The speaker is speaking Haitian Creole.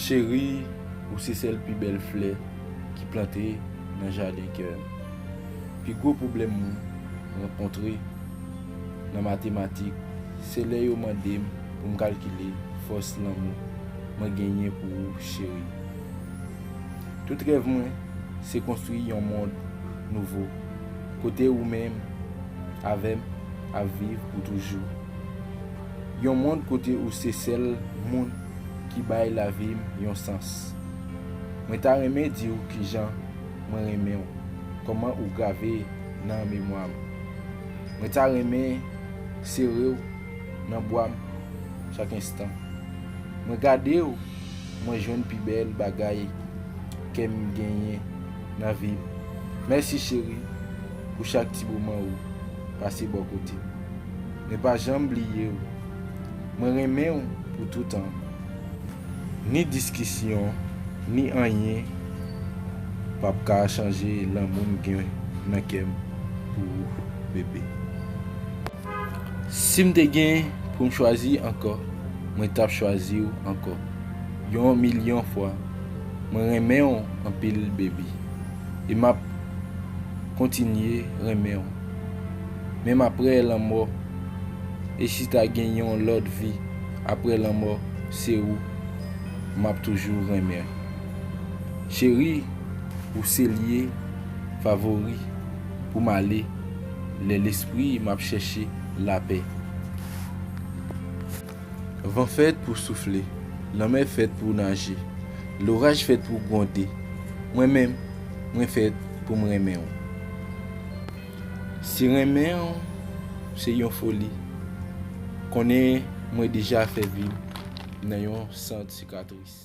Cherie ou se sèl pi bèl flè ki plante nan jaden kèm. Pi gwo pwoblèm mwen rankontre nan matematik se lè yo mandem poum kalkile fòs lanmou mwen genyen pou ou cherie. Tout rèv mwen se konstwi yon mond nouvo kote ou menm avè m ap viv pou toujou. Yon mond kote ou se sèl moun ki bay lavi m yon sans. Mwen ta renmen di w kijan mwen renmen w, kòman ou grave nan memwa m. Mwen ta renmen sere w nan bwa m chak enstan. Mwen gade w. mwen jwenn pi bèl bagay kèm genyen nan vim mèsi cheri pou chak ti moman ou pase bò kotem mwen pa janm bliyew mwen renmenw pou toutan ni diskisyon ni anyen pap ka chanje lanmoum gen nan kèm pou ou bebe. Sim te gen poum chwazi ankò mwen tap chwaziw ankò yon milyon fwa mwen renmenw anpil baby e map kontinye renmenw menm aprè lanmò e si ta gen yon lòt vi aprè lanmò se ou map toujou renmen cheri ou se lye favori poum ale. Lè lespri m ap chèche lapè. Van fèt pou soufle, lanmè fèt pou naje, loraj fèt pou gwonde, mwen menm, mwen fèt pou m renmen w. Si renmen w se yon foli, konnen mwen deja fè vi m nan yon sant sikatris.